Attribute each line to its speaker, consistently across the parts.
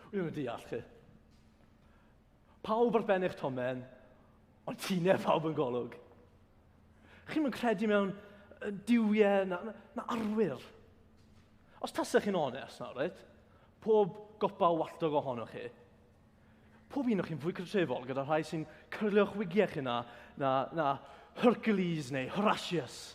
Speaker 1: Wi ddim yn deall chi. Pawb ar ben eich tomen, ond ti'n neb pawb yn golwg. Chi'n mynd credu mewn diwiau na, na, na arwyr. Os tasech chi'n onest nawr, right? pob gopa o walltog ohonoch chi, pob un o'ch chi'n fwy cytrefol gyda rhai sy'n cyrlio'ch wigiau chi na, na, na Hercules neu Horatius.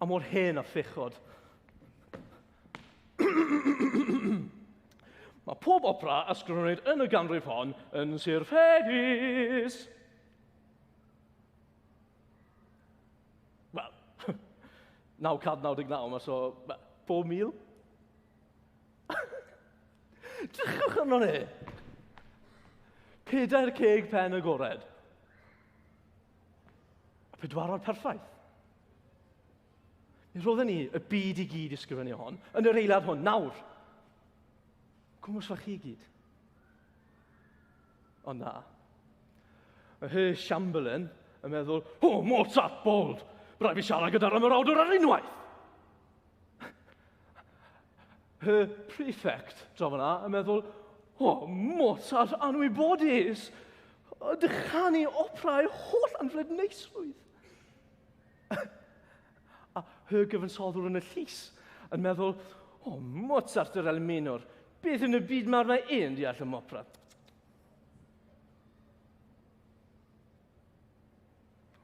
Speaker 1: A mor hen a phechod. Mae pob opera a sgrifennwyd yn y ganrif hon yn Sir Ffedus. Wel, 999, so pob mil. Drychwch arno ni. Pedair ceg pen agored. Y pedwarod perffaith. Mi roedden ni y byd i gyd ysgrifennu hon, yn yr eilad hwn, nawr. Cwmwys fach chi i gyd. Ond na. Mae Hy Siamberlin yn meddwl, o, oh, Mozart, bold, rhaid fi siarad gyda'r ymwrawdwr ar unwaith. Y prefect, draw yna, yn meddwl, o, Mozart anwybodus! Dychanu operau holl anfled neisrwydd. A y gyfansoddwr yn y llys yn meddwl, o, Mozart yr Elmenor, beth yn y byd mae'r mae e'n deall ym opera?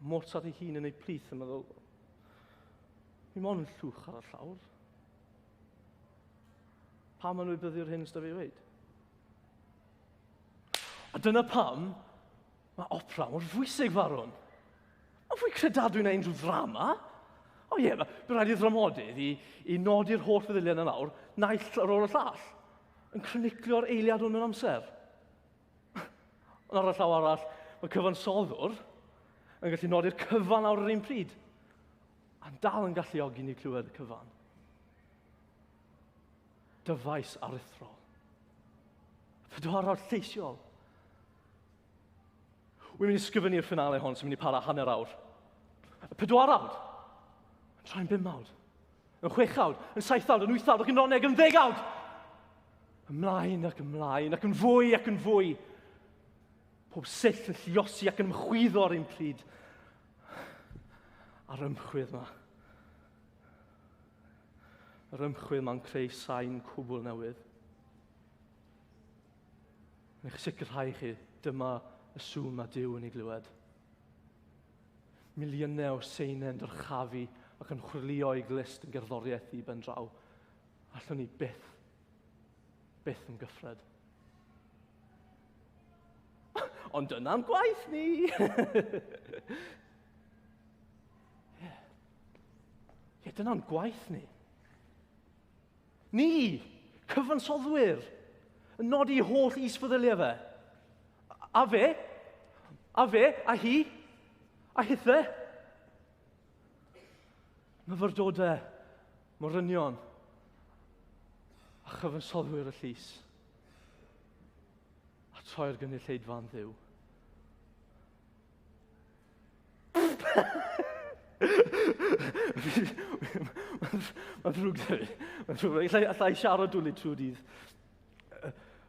Speaker 1: Mozart ei hun yn ei plith yn meddwl, mi mon yn llwch ar y llawr. Pam yn wybyddu'r hyn ysda fi wneud? A dyna pam mae opera mor fwysig, farwn. Mae'n fwy credadwy na unrhyw ddrama. O ie, yeah, bydd rhaid i ddramodydd i, i nodi'r holl feddyliau yn yr awr, naill ar ôl y llall, yn croniglio'r eiliad hwn yn amser. Ond ar y llaw arall, mae cyfansoddwr yn gallu nodi'r cyfan ar yr un pryd, a'n dal yn galluogi ni clywed y cyfan. Dyfais aruthrol. Pedwarol lleisiol. Wy'n mynd i sgyfynu'r ffynale hon sy'n mynd i para hanner awr. Y pedwar awr. Yn troi'n bum awr. Yn chwechawd, yn saethawd, yn wythawd ac yn noneg, yn ddegawd! Ymlaen ac ymlaen ac yn fwy ac yn fwy. Pob sill yn lliosi ac yn ymchwyddo ar ein pryd. A'r ymchwyd yma. Yr ymchwyd yma'n creu sain cwbl newydd. Yn eich sicrhau chi, dyma y sŵn mae Dyw yn ei glywed. Miliynau o Seinen yn dyrchafu ac yn chwyrlio i glust yn gerddoriaeth ddi ben draw. Allwn ni byth, byth yn gyffred. Ond dyna'n gwaith ni! Ie, yeah, dyna'n gwaith ni. Ni, cyfansoddwyr, yn nodi holl isfeddyliau fe. A fe? A fe? A hi? A hithe? Myfyrdodau, morynion, a chyfansoddwyr y llys. A troi'r gynulleidfa'n ddiw. Mae'n ddrwg da fi. Mae'n ddrwg. Alla, alla i siarad dwlu trwy dydd.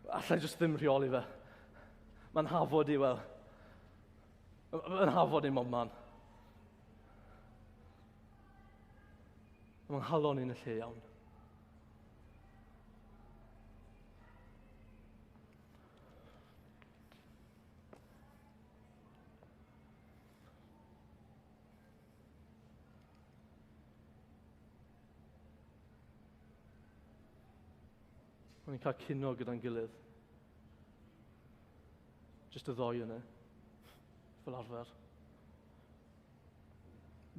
Speaker 1: Alla i jyst ddim rheoli fe. Mae'n hafod i, wel. Mae'n hafod i mob man. Mae'n halon i'n y lle iawn. Mae'n cael cino gyda'n gilydd. Just y ddoi yna. Fel arfer.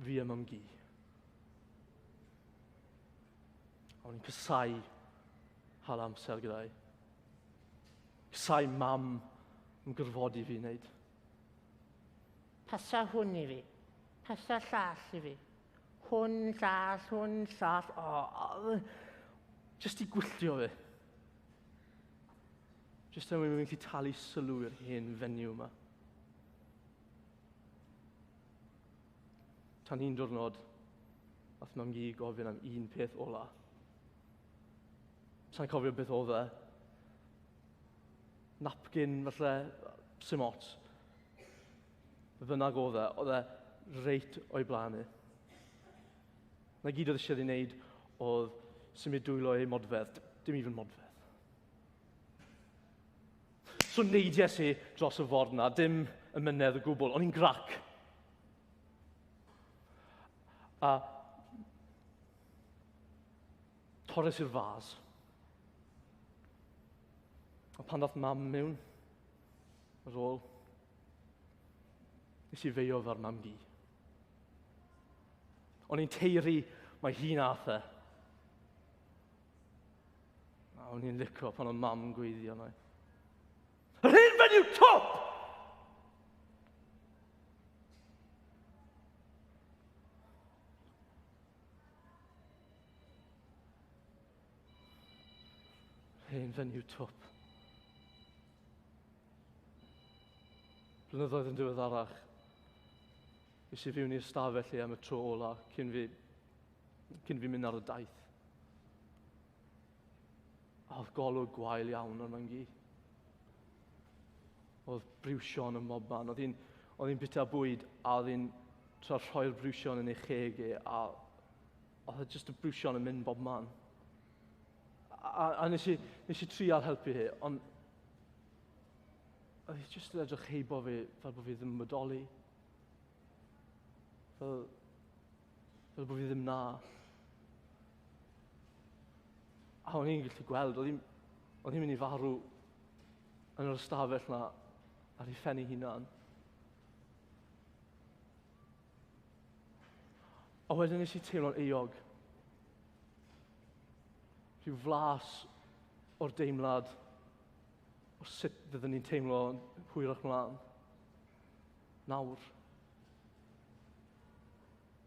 Speaker 1: Fi a mam gi. A o'n i'n casau hal amser gyda'i. Sai mam yn gyrfodi fi wneud. Pasa hwn i fi. Pasa llall i fi. Hwn, llall, hwn, llall. O, oh, just i gwylltio fi. Just er mwyn mynd i talu sylw i'r hen fenyw yma. Tan un diwrnod, nath mam gi gofyn am un peth ola. Sa'n cofio beth oedd e. Napkin, falle, sy'n ots. Be bynnag oedd e, oedd e reit o'i blaen i. Na gyd oedd eisiau ei wneud oedd symud dwylo ei modfedd, dim even modfedd. So neidies i dros y ford na, dim y mynedd y gwbl, o'n i'n grac. A Torres i'r fas. A pan ddath mam mewn, yr ôl, nes i feio ar mam gi. O'n i'n teiri mae hi'n atha. A o'n i'n licio pan o'n mam yn gweithio yna. Yr hyn fe yw top! Hen fenyw twp. Blynyddoedd yn diweddarach, is i fiwn i'r stafell i am y tro ola cyn fi, cyn fi mynd ar y daith. A oedd golwg gwael iawn o'r myngi. Oedd briwsion ym mob man. Oedd hi'n oedd hi'n bita bwyd a oedd hi'n tra rhoi'r briwsion yn ei cheg e a oedd e jyst y briwsion yn mynd bob man. A, a nes, i, nes i trial helpu hi, ond oedd hi jyst yn edrych heibo fi fel bod fi ddim yn bodoli. Fel, fel bod fi ddim na. A o'n i'n gallu gweld, oedd hi'n oedd hi'n mynd i farw yn yr ystafell na ar ei phen ei hunan. A wedyn nes i teimlo'n eog. Rhyw flas o'r deimlad o sut byddwn ni'n teimlo hwyrach mlaen. Nawr.